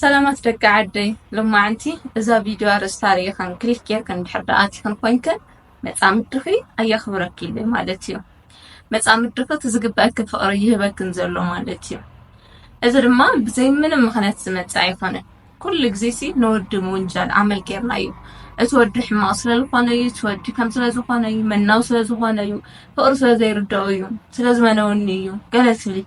ሰላማት ደቂ ዓደይ ሎማዓንቲ እዛ ቪድዮ ኣርእስታ ሪኢክን ክሊክ ጌርክን እንድሕር ደኣ ኣቲክን ኮይንክን መጻምድኺ ኣየኽብረኪ ኢዩ ማለት ኢዩ መጻምድኺ እቲ ዝግበኣኪ ፍቕሪ ይህበክን ዘሎ ማለት ኢዩ እዚ ድማ ብዘይ ምንም ምኽንያት ዝመጽእ ኣይኮነን ኩሉ ግዜሲ ንወዲ ምውንጃል ኣመል ጌርና ኢዩ እቲ ወዲ ሕማቕ ስለ ዝኾነ እዩ እቲ ወዲ ከም ስለ ዝኾነ እዩ መናው ስለ ዝኾነ እዩ ፍቕሪ ስለ ዘይርድኦ እዩ ስለ ዝመነወኒ እዩ ገለ ትብሊ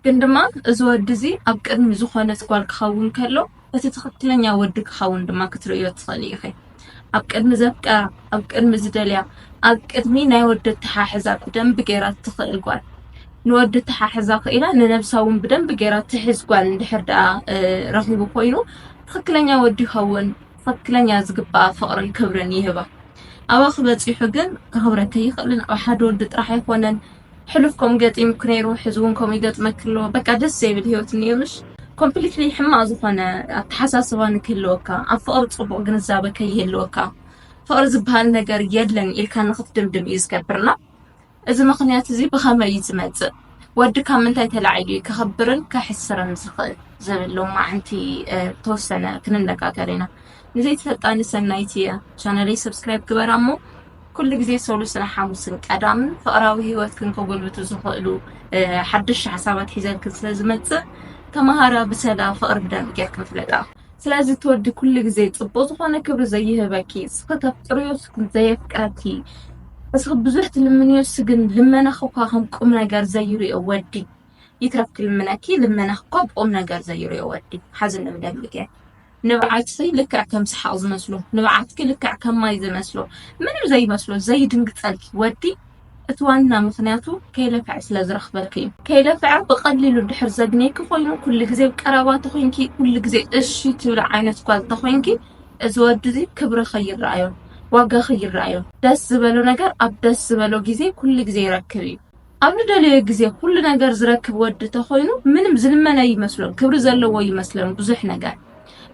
ግን ድማ እዚ ወዲ እዚ ኣብ ቅድሚ ዝኾነት ጓል ክኸውን ከሎ እቲ ትኽክለኛ ወዲ ክኸውን ድማ ክትርእዮ ትኽእሊ ኢኺ። ኣብ ቅድሚ ዘፍቀራ፣ ኣብ ቅድሚ ዝደልያ፣ ኣብ ቅድሚ ናይ ወዲ ኣተሓሕዛ ብደንቢ ገይራ እትኽእል ጓል ንወዲ ተሓሕዛ ክኢላ ንነብሳ እውን ብደንቢ ገይራ ትሕዝ ጓል እንድሕር ደኣ ረኺቡ ኮይኑ ትኽክለኛ ወዲ ይኸውን ትኽክለኛ ዝግባኣ ፍቕርን ክብርን ይህባ ኣባኺ በፂሑ ግን ከኽብረኪ ኣይኽእልን ኣብ ሓደ ወዲ ጥራሕ ኣይኮነን ሕሉፍ ከምኡ ገጢሙኪ ነይሩ ሕዚ እውን ከምኡ ይገጥመኪ ኣሎ በቃ ደስ ዘይብል ሂወት እኒኦምሽ ኮምፕሊትሊ ሕማቅ ዝኾነ ኣተሓሳስባ ንክህልወካ ኣብ ፍቅሪ ፅቡቅ ግንዛበ ከይህልወካ ፍቅሪ ዝበሃል ነገር የለን ኢልካ ንክትድምድም እዩ ዝገብርና እዚ ምክንያት እዚ ብኸመይ እዩ ዝመፅእ ወዲ ካብ ምንታይ ተላዒሉ እዩ ከኸብርን ከሕስርን ዝኽእል ዝብሎ ማዓንቲ ተወሰነ ክንነጋገር ኢና ንዘይትፈልጣኒ ሰናይት እየ ቻነለይ ሰብስክራይብ ግበራ እሞ ኩሉ ግዜ ሰሉስን ሓሙስን ቀዳምን ፍቕራዊ ህይወትክን ከጎልብቱ ዝኽእሉ ሓደሽቲ ሓሳባት ሒዘልክን ስለ ዝመጽእ ተመሃራ ብሰላ ፍቕሪ ብደንቢ ጌርክን ፍለጣ ስለዚ ትወዲ ኩሉ ግዜ ጽቡቕ ዝኾነ ክብሪ ዘይህበኪ እስኺ ተፍቅርዮ እስኪ ዘየፍቅረኪ እስኺ ብዙሕ ትልምንዮ እሱ ግን ልመናኺ እኳ ከም ቁም ነገር ዘይርዮ ወዲ ይትረፍኪ ልምነኪ ልመናኺ እኳ ብቁም ነገር ዘይርዮ ወዲ ሓዝኒ ብደንቢ ጌር ንብዓትኺ ልክዕ ከም ሰሓቕ ዝመስሎ፣ ንብዓትኪ ልክዕ ከም ማይ ዝመስሎ፣ ምንም ዘይመስሎ ዘይድንግጸልኪ ወዲ እቲ ዋና ምኽንያቱ ከይለፍዐ ስለ ዝረኽበኪ እዩ። ከይለፍዐ ብቐሊሉ እንድሕር ዘግንየኪ ኮይኑ ኩሉ ግዜ ኣብ ቀረባ ተኾይንኪ ኩሉ ግዜ እሺ ትብሊ ዓይነት ጓል ተኾይንኪ እዚ ወዲ እዚ ክብርኺ ይረኣዮ፣ ዋጋኺ ይረኣዮ፣ ደስ ዝበሎ ነገር ኣብ ደስ ዝበሎ ግዜ ኩሉ ግዜ ይረክብ እዩ። ኣብ ንደለዮ ግዜ ኩሉ ነገር ዝረክብ ወዲ ተኮይኑ ምንም ዝልመን ኣይመስሎን ክብሪ ዘለዎ ይመስለን ብዙሕ ነገር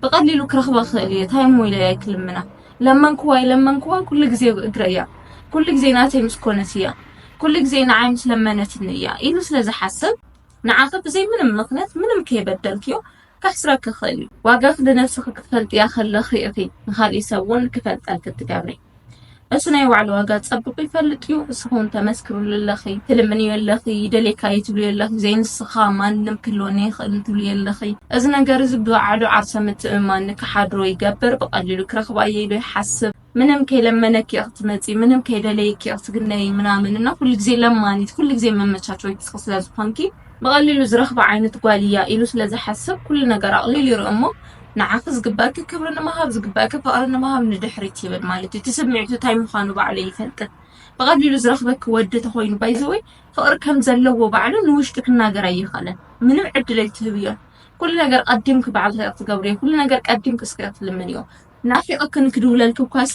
ብቀሊሉ ክረክባ ክክእል እየ ታይ እሞ ኢለ እየ ክልምና ለመንክዋ ኣይለመንክዋ ኩሉ ግዜ ኣብ እግረይ እያ ኩሉ ግዜ ናተይ ምስ ኮነት እያ ኩሉ ግዜ ንዓይ ምስ ለመነትኒ እያ ኢሉ ስለ ዝሓስብ ንዓኺ ብዘይ ምንም ምክንያት ምንም ከይበደልክዮ ከሕስረኪ ይክእል እዩ ዋጋኺ ንነብስኺ ክትፈልጥያ ከለኺ ኢኺ ንካሊእ ሰብ እውን ክፈልጠልኪ እትገብሪ እሱ ናይ ባዕሉ ዋጋ ጸብቁ ይፈልጥ እዩ። እሱ ኹን ተመስክርሉ ኣለኺ ትልምንዮ ኣለኺ ይደሌካ እዩ ትብሉ ኣለኺ ዘይንስኻ ማንም ክህልወኒ ይኽእል ትብሉ ኣለኺ። እዚ ነገር እዚ ብባዕሉ ዓርሰ ምትእምማን ንክሓድሮ ይገብር። ብቐሊሉ ክረኽባ እየ ኢሉ ይሓስብ። ምንም ከይለመነኪ እየ ክትመጺ፣ ምንም ከይደለየኪ እየ ክትግነይ ምናምን እና ኩሉ ግዜ ለማኒት፣ ኩሉ ግዜ መመቻቸዊት እስኺ ስለ ዝኾንኪ ብቐሊሉ ዝረኽባ ዓይነት ጓል እያ ኢሉ ስለ ዝሓስብ ኩሉ ነገር ኣቕሊሉ ይርኢ እሞ ንዓኺ ዝግበኣኪ ክብሪ ንምሃብ ዝግበኣኪ ፍቕሪ ንምሃብ ንድሕሪት ይብል ማለት እዩ። እቲ ስምዒቱ እንታይ ምዃኑ ባዕሉ ኣይፈልጥን። ብቐሊሉ ዝረኽበኪ ወዲ ተኾይኑ ባይዘወይ ፍቕሪ ከም ዘለዎ ባዕሉ ንውሽጢ ክናገር ኣይኸለን። ምንም ዕድል ኣይትህብዮን። ኩሉ ነገር ቀዲምኪ ባዕልኺ ኢኺ ትገብርዮ። ኩሉ ነገር ቀዲምኪ እስኪ ኢኺ ትልምንዮ። ናፊቐክን ክድውለልኪ እኳሲ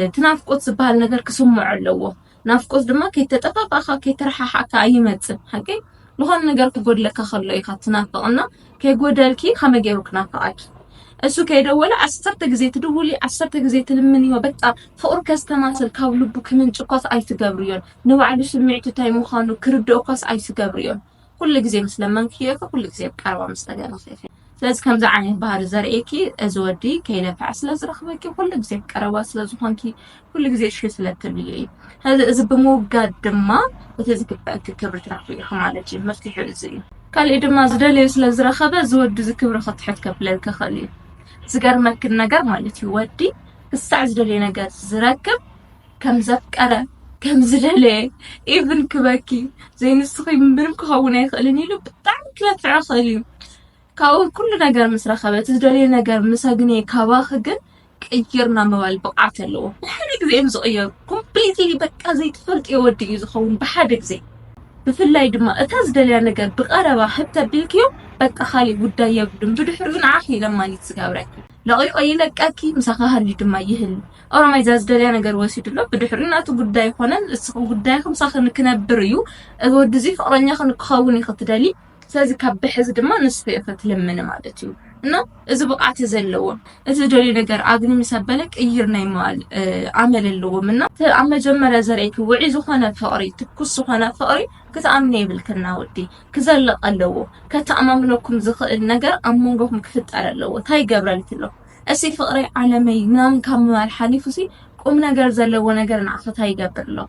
እቲ ናፍቆት ዝበሃል ነገር ክስምዖ ኣለዎ። ናፍቆት ድማ ከይተጠፋፋእካ ከይተረሓሓእካ ኣይመጽን ሓቀይ ዝኾነ ነገር ክጎድለካ ከሎ ኢኻ ትናፍቕ እና ከይጎደልኪ ከመይ ገይሩ ክናፍቓኪ እሱ ከይደወለ ዓሰርተ ግዜ ትድውሊ ዓሰርተ ግዜ ትልምንዮ በቃ ፍቕሩ ከስተማስል ካብ ልቡ ክምንጭ እኳስ ኣይትገብርዮን ንባዕሉ ስምዒቱ እንታይ ምዃኑ ክርድኦ እኳስ ኣይትገብርዮን ኩሉ ግዜ ምስ ለመንክዮ ኢኺ፣ ኩሉ ግዜ ኣብ ቀረባ ምስ ተገረኺ ኢኺ። ስለዚ ከምዚ ዓይነት ባህሪ ዘርእየኪ እዚ ወዲ ከይነፍዐ ስለ ዝረኽበኪ፣ ኩሉ ግዜ ኣብ ቀረባ ስለ ዝኾንኪ፣ ኩሉ ግዜ እሺ ስለ እትብልዮ እዩ። ስለዚ እዚ ብምውጋድ ድማ እቲ ዝግበኣኪ ክብሪ ትረኽቢ ኢኺ ማለት እዩ። መፍትሒኡ እዚ እዩ። ካሊእ ድማ ዝደለዮ ስለ ዝረኸበ እዚ ወዲ እዚ ክብሪ ክትሕት ከብለልኪ ይኽእል እዩ። ዝገርመኪ ነገር ማለት እዩ ወዲ ክሳዕ ዝደልዮ ነገር ዝረክብ፣ ከም ዘፍቀረ ከም ዝደለየ ኢቭን ክበኪ ዘይንስኺ ምንም ክኸውን ኣይኽእልን ኢሉ ብጣዕሚ ክለፍዕ ይኽእል እዩ ካብኡ ኩሉ ነገር ምስ ረኸበ እቲ ዝደልዮ ነገር ምስ ኣግነየ ካባኺ ግን ቅይርና ምባል ብቕዓት ኣለዎ ብሓደ ግዜ እዮም ዝቕየሩ ኮምፕሊትሊ በቃ ዘይትፈልጥዮ ወዲ እዩ ዝኸውን ብሓደ ግዜ ብፍላይ ድማ እታ ዝደልያ ነገር ብቐረባ ህብ ተቢልክዮ በቃ ካሊእ ጉዳይ የብሉን ብድሕሪኡ ንዓኺ ለማኒት ዝገብረኪ ለቒቖ ይለቀኪ ምሳኺ ሃልዩ ድማ ይህሉ ኦሮማይ ዛዝደልያ ነገር ወሲዱ ኣሎ ብድሕሪኡ ናቱ ጉዳይ ይኾነን እስኺ ጉዳይኺ ምሳኺ ንክነብር እዩ እዚ ወዲ እዚ ፍቅረኛኺ ንክኸውን እዩ ክትደሊ ስለዚ ካብ ብሕዚ ድማ ንስኺ ኢኺ ትልምኒ ማለት እዩ እና እዚ ብቕዓት ዘለዎ እቲ ዝደልዩ ነገር ኣግኒ ምስ ኣበለ ቅይር ናይ ምባል ኣመል ኣለዎም እና ኣብ መጀመርያ ዘርእይኪ ውዒ ዝኾነ ፍቕሪ ትኩስ ዝኾነ ፍቕሪ ክትኣምኒ የብልክና ወዲ ክዘልቕ ኣለዎ ከተኣማምነኩም ዝኽእል ነገር ኣብ መንጎኹም ክፍጠር ኣለዎ እንታይ ይገብረልኪ ኣሎ እሲ ፍቅሪ ዓለመይ ምናምን ካብ ምባል ሓሊፉሲ ቁምነገር ዘለዎ ነገር ንዓኺ ታይ ይገብር ኣሎ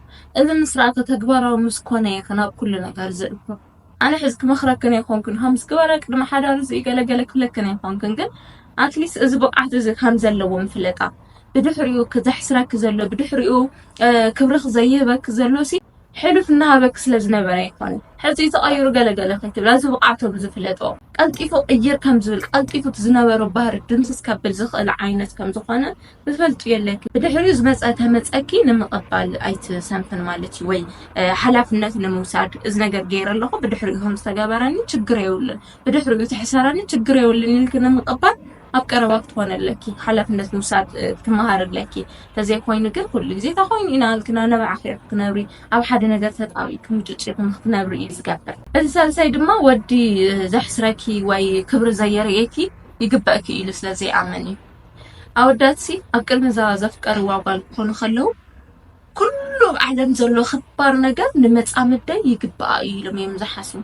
እዚ ምስ ርኣከ ተግባራዊ ምስ ኮነ ኢኺ ናብ ኩሉ ነገር ዝእቱ ኣነ ሕዚ ክመኽረክን ኣይኾንኩን ሀምስ ግበረ ቅድሚ ሓዳር እዚ ገለ ገለ ክብለክን ኣይኾንኩን ግን ኣትሊስት እዚ ብቕዓት እዚ ከም ዘለዎም ፍለጣ ብድሕሪኡ ዘሕስረኪ ዘሎ ብድሕሪኡ ክብርኽ ዘይህበኪ ዘሎሲ ሕሉፍ እናሃበኪ ስለ ዝነበረ ኣይኮነን ሕጺ ተቐይሩ ገለ ገለ ከይትብሊ ኣዚ ብቕዓቶ ብዝፍለጦ ቀልጢፉ ቅይር ከም ዝብል ቀልጢፉ እቲ ዝነበሮ ባህሪ ድምስስ ከብል ዝኽእል ዓይነት ከም ዝኾነ ብፈልጡ የለኪ ብድሕሪኡ ዝመጸ ተመጸኪ ንምቕባል ኣይትሰንፍን ማለት እዩ ወይ ሓላፍነት ንምውሳድ እዚ ነገር ገይረ ኣለኹ ብድሕሪኡ ከም ዝተገበረኒ ችግር የብሉን ብድሕሪኡ ትሕሰረኒ ችግር የብሉን ኢልኪ ንምቕባል ኣብ ቀረባ ክትኾነ ኣለኪ ሓላፍነት ምውሳድ ትመሃር ኣለኪ ተዘይኮይኑ ግን ኩሉ ግዜ እታ ኮይኑ ኢና ልክና ነባዕኺ ክትነብሪ ኣብ ሓደ ነገር ተጣቢብኪ ምጭጭ ክትነብሪ እዩ ዝገብር እዚ ሳልሳይ ድማ ወዲ ዘሕስረኪ ወይ ክብሪ ዘየርእየኪ ይግበእኪ ኢሉ ስለ ዘይኣምን እዩ ኣወዳትሲ ኣብ ቅድሚ እዛ ዘፍቀርዋ ጓል ክኾኑ ከለዉ ኩሉ ኣብ ዓለም ዘሎ ክባር ነገር ንመፃምደይ ይግበኣ እዩ ኢሎም እዮም ዝሓስቡ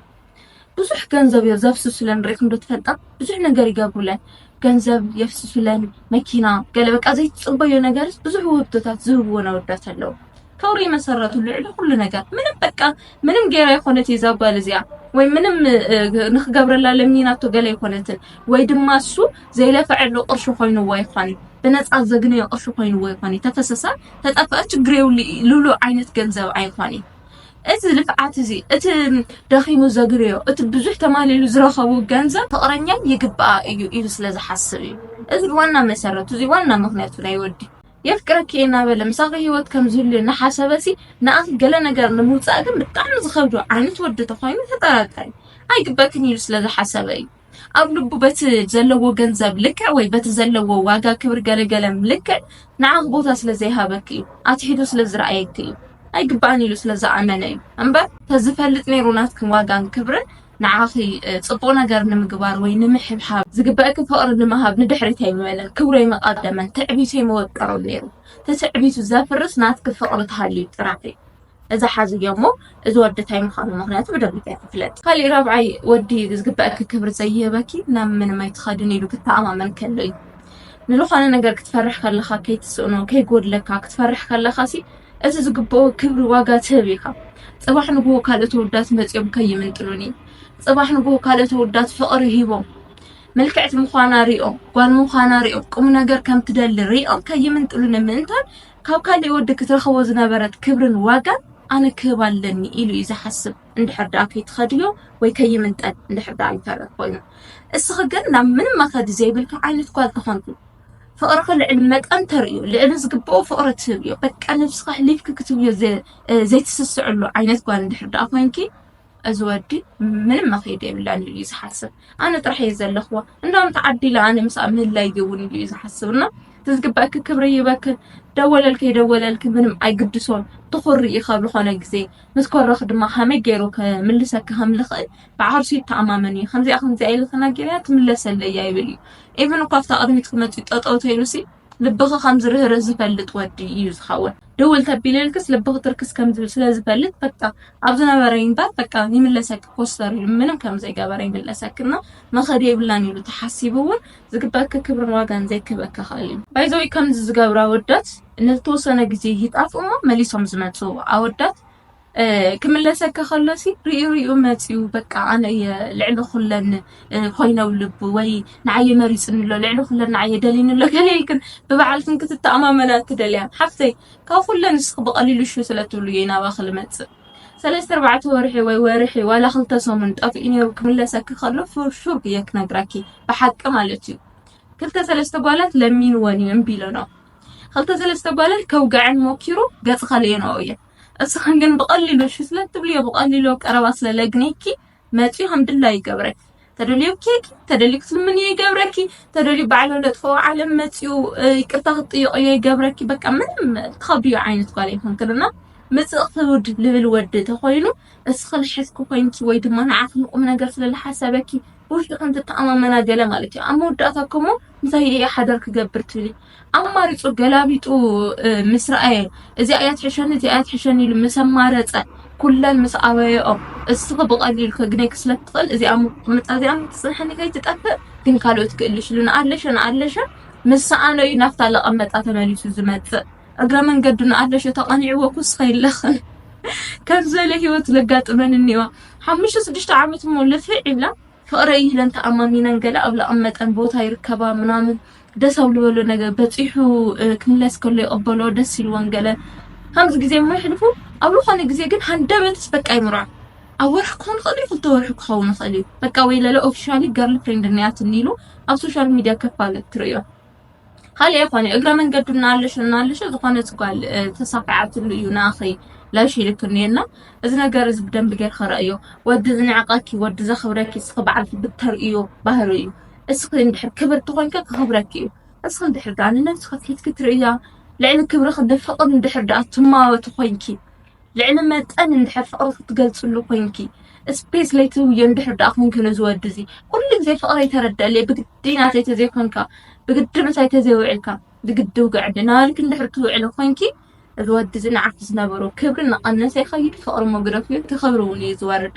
ብዙሕ ገንዘብ እዮ ዘፍስሱለን ሪኢኹም ዶ ትፈልጣ ብዙሕ ነገር ይገብሩለን ገንዘብ የፍስሱለን መኪና ገለ በቃ ዘይትፅበዮ ነገርስ ብዙሕ ውህብቶታት ዝህብወን ኣወዳት ኣለው ክብሪ መሰረቱ ልዕሊ ኩሉ ነገር ምንም በቃ ምንም ገይራ ይኮነት እዛ ጓል እዚኣ ወይ ምንም ንክገብረላ ለሚናቶ ገለ ይኮነትን ወይ ድማ እሱ ዘይለፈዐሉ ቅርሺ ኮይኑዎ ይኮን ብነፃ ዘግነዮ ቅርሺ ኮይኑዎ ይኮን ተፈሰሳ ተጠፍአ ችግር የብሉ ሉሉ ዓይነት ገንዘብ ኣይኮን እዚ ልፍዓት እዚ እቲ ደኺሙ ዘግርዮ እቲ ብዙሕ ተማሊሉ ዝረኸቡ ገንዘብ ፍቕረኛይ ይግብኣ እዩ ኢሉ ስለ ዝሓስብ እዩ እዚ ዋና መሰረቱ እዚ ዋና ምኽንያቱ ናይ ወዲ የፍቅረኪ እየ እናበለ ምሳኺ ሂወት ከም ዝህሉ እናሓሰበሲ ንኣኺ ገለ ነገር ንምውፃእ ግን ብጣዕሚ ዝኸብዶ ዓይነት ወዲ ተኾይኑ ተጠራጠሪ ኣይግበክን ኢሉ ስለ ዝሓሰበ እዩ ኣብ ልቡ በቲ ዘለዎ ገንዘብ ልክዕ ወይ በቲ ዘለዎ ዋጋ ክብር ገለገለም ልክዕ ንዓኽ ቦታ ስለ ዘይሃበክ እዩ ኣትሒቱ ስለ ዝረኣየክ እዩ ኣይግባእን ኢሉ ስለ ዝኣመነ እዩ እምበር ተዝፈልጥ ነይሩ ናትክን ዋጋን ክብርን ንዓኺ ጽቡቕ ነገር ንምግባር ወይ ንምሕብሓብ ዝግበእኪ ፍቕሪ ንምሃብ ንድሕሪት ኣይምበለን ክብሩ ኣይመቓደመን ትዕቢቱ ኣይመወጠሮን ነይሩ ተትዕቢቱ ዘፍርስ ናትኪ ፍቕሪ ተሃልዩ ጥራሕ እዩ እዛ ሓዝዮ እሞ እዚ ወዲ እንታይ ምዃኑ ምክንያቱ ብደንቢ ኣይክፍለጥ ካሊእ ራብዓይ ወዲ ዝግበአኪ ክብሪ ዘይህበኪ ናብ ምንም ኣይትኸድን ኢሉ ክተኣማመን ከሎ እዩ ንዝኾነ ነገር ክትፈርሕ ከለኻ ከይትስእኖ ከይጎድለካ ክትፈርሕ ከለኻ ሲ እቲ ዝግብኦ ክብሪ ዋጋ ትህብ ኢኻ ፅባሕ ንግሆ ካልእ ተወዳት መፂኦም ከይምንጥሉኒ ፅባሕ ንግሆ ካልእ ተወዳት ፍቕሪ ሂቦም ምልክዕቲ ምዃና ሪኦም ጓል ምዃና ሪኦም ቁም ነገር ከም ትደሊ ሪኦም ከይምንጥሉኒ ምእንታን ካብ ካሊእ ወዲ ክትረኽቦ ዝነበረት ክብርን ዋጋን ኣነ ክህብ ኣለኒ ኢሉ እዩ ዝሓስብ እንድሕር ድኣ ከይትኸድዮ ወይ ከይምንጠል እንድሕር ድኣ ይተርፍ ኮይኑ እስኺ ግን ናብ ምንም መኸዲ ዘይብልኪ ዓይነት ጓል ተኾንኪ ፍቕርኺ ልዕሊ መጠን ተርእዮ ልዕሊ ዝግብኦ ፍቕሪ ትህብዮ በቃ ነብስኺ ኣሕሊፍኪ ክትብዮ ዘይትስስዕሉ ዓይነት ጓል እንድሕር ድኣ ኮንኪ እዚ ወዲ ምንም መኸይዲ የብላን ኢሉ እዩ ዝሓስብ ኣነ ጥራሕ እየ ዘለኽዋ እንዳውም ተዓዲለ ኣነ ምስኣ ምህላይ ይውን ኢሉ እዩ ዝሓስብ እና እቲ ዝግበእኪ ክብሪ ይበክን ደወለልኪ የደወለልኪ ምንም ኣይግድሶን ትኹሪ እዩ ካብ ዝኾነ ግዜ ምስ ኮረኽ ድማ ሃመይ ገይሩ ክምልሰኪ ከም ዝኽእል ብዓርሱ ይተኣማመን እዩ ከምዚኣ ከምዚኣ ኢሉ ተናጊረያ ትምለሰለይ እያ ይብል እዩ ኢቨን እኳ ኣብታ ቅድሚት ክመፅእ ጠጠው ተይሉሲ ልብኺ ከም ዝርህርህ ዝፈልጥ ወዲ እዩ ዝኸውን ድውል ተቢልልክስ ልብኺ ትርክስ ከም ዝብል ስለ ዝፈልጥ በቃ ኣብ ዝነበረ ይንበር በቃ ይምለሰኪ ኮስተር ኢሉ ምንም ከም ዘይገበረ ይምለሰክና መኸዲ የብላን ኢሉ ተሓሲቡ እውን ዝግበኪ ክብርን ዋጋን ዘይክበኪ ክእል እዩ ባይዘዊ ከምዚ ዝገብሩ ኣወዳት ንዝተወሰነ ግዜ ይጣፍኡ እሞ መሊሶም ዝመፁ ኣወዳት ክምለሰካ ከሎሲ ሪኡ ሪኡ መጺኡ በቃ ኣነ እየ ልዕሊ ኩለን ኮይነ ኣብ ልቡ ወይ ንዓይ እዩ መሪጽኒ ኣሎ ልዕሊ ኩለን ንዓይ እዩ ደሊኒ ኣሎ ገለ ኢልክን ብባዕልክን ክትተኣማመና እትደልያ ሓፍተይ ካብ ኩለን ንስኺ ብቐሊሉ ሹ ስለ ትብሉ እየ ናባኺ ልመጽእ ሰለስተ ኣርባዕተ ወርሒ ወይ ወርሒ ዋላ ክልተ ሰሙን ጠፊኡ ነይሩ ክምለሰኪ ከሎ ሹር እየ ክነግራኪ ብሓቂ ማለት እዩ ክልተ ሰለስተ ጓላት ለሚንወን እዩ እምቢ ኢለንኦ ክልተ ሰለስተ ጓላት ከውግዐን ሞኪሩ ገጽ ከለየንኦ እየ እስኽን ግን ብቐሊሉ እሺ ስለትብልዮ ብቐሊሉ ኣብ ቀረባ ስለለግኔኪ መፅዩ ከም ድላዩ ይገብረኪ ተደልዮ ኬኪ ተደልዩ ክትልምንዮ ይገብረኪ ተደልዩ ባዕሎ ለጥፈኦ ዓለም መፅዩ ይቅርታ ክትጥይቅዮ ይገብረኪ በቃ ምንም ትኸብድዮ ዓይነት ጓል ይኹንክልና ምፅእ ክውድ ልብል ወዲ ተኾይኑ እስኽን ሕዝኪ ኮይንኪ ወይ ድማ ንዓኽ ንቁም ነገር ስለዝሓሰበኪ ብውሽጢ ከም ትተኣማመና ገለ ማለት እዩ። ኣብ መወዳእታ እኮ እሞ እንታይ እየ ሓዳር ክገብር ትብሊ? ኣማሪጹ ገላቢጡ ምስ ረኣየ እዚኣ እያ ትሕሸኒ እዚኣ እያ ትሕሸኒ ኢሉ ምስ ኣማረጸ ኩለን ምስ ኣበየኦ እስኺ ብቐሊሉ ከግነይኪ ስለ ትኽእል እዚኣ ምቕምጣ እዚኣ ትጽንሐኒ ከይትጠፍእ ግን ካልኦት ክእልሽሉን ኣለሸን ኣለሸን ምስ ሰኣኖ እዩ ናብታ ለቐመጣ ተመሊሱ ዝመጽእ እግረ መንገዱ ንኣለሾ ተቐኒዕዎ ኩስኸ ይለኽን ከም ዝበለ ህይወት ዘጋጥመን እኒዋ ሓሙሽተ ስድሽተ ዓመት እሞ ልፍዕ ይብላ ፍቕረይ ኢለን ተኣማሚነን ገለ ኣብ ለቐመጠን ቦታ ይርከባ ምናምን ደስ ኣብ ዝበሎ ነገር በፂሑ ክምለስ ከሎ ይቕበሎ ደስ ኢልዎን ገለ ከምዚ ግዜ እሞ ይሕልፉ ኣብ ዝኾነ ግዜ ግን ሃንደበትስ በቃ ይምርዖ ኣብ ወርሒ ክኾን ይኽእል እዩ ክልተ ወርሒ ክኸውን ይኽእል እዩ በቃ ወይ ለለ ኦፊሻሊ ገርል ፍሬንድ እኒኣትኒ ኢሉ ኣብ ሶሻል ሚድያ ከፋለት ትርእዮ ካልእ የኮነ እግረ መንገዱ እናልሽ እናልሽ ዝኾነት ጓል ተሳኪዓትሉ እዩ ንኣኺ ላሽ ኢልክኒ እየና እዚ ነገር እዚ ብደንብ ጌርካ ረእዮ ወዲ ዝንዕቀኪ ወዲ ዘኽብረኪ እስኺ በዓልኪ ብተርእዮ ባህሪ እዩ እስኺ እንድሕር ክብርቲ ኮንኪ ክኽብረኪ እዩ እስኺ እንድሕር ደኣ ንነብስኺ ፊትኪ ትርእያ ልዕሊ ክብርኺ ንፍቕር እንድሕር ደኣ ትማወቲ ኮንኪ ልዕሊ መጠን እንድሕር ፍቕሪ ክትገልጽሉ ኮንኪ ስፔስ ለይትህብዮ እንድሕር ደኣ ኮንኪ ነዚ ወዲ እዚ ኩሉ ግዜ ፍቕረይ ተረድኣለይ ብግዲ ናተይ ተዘይኮንካ ብግዲ ምሳይ ተዘይውዒልካ ብግዲ ውግዕኒ እናበልኪ እንድሕር ትውዕሊ ኮንኪ እዚ ወዲ እዚ ንዓኺ ዝነበሮ ክብሪ እናቐነሰ ይኸይድ ፍቕሪ ሞግደፍዮ እቲ ክብሪ እውን እዩ ዝወርድ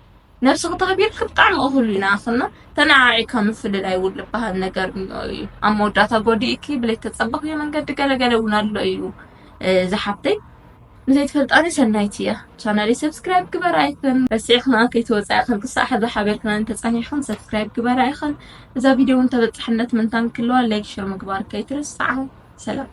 ነብስኪ ተክቢርኪ ብጣዕሚ እኩል ኢና ክና ተናዓዒካ ምፍልላይ ውን ልባሃል ነገር እኒኦ እዩ ኣብ መወዳእታ ጎዲእኪ ብለይተፀበክዮ መንገዲ ገለ ገለ እውን ኣሎ እዩ ዝሓፍተይ ንዘይትፈልጣኒ ሰናይቲ እያ ቻናለይ ሰብስክራይብ ግበራ ይክን ረሲዕ ክና ከይተወፃኢ ከም ክሳዕ ሕዚ ሓቢርክና እንተፀኒሕክን ሰብስክራይብ ግበራ ይክን እዛ ቪድዮ እውን ተበፃሕነት ምንታን ክለዋ ላይክ ሸር ምግባር ከይትርስዓ ሰላም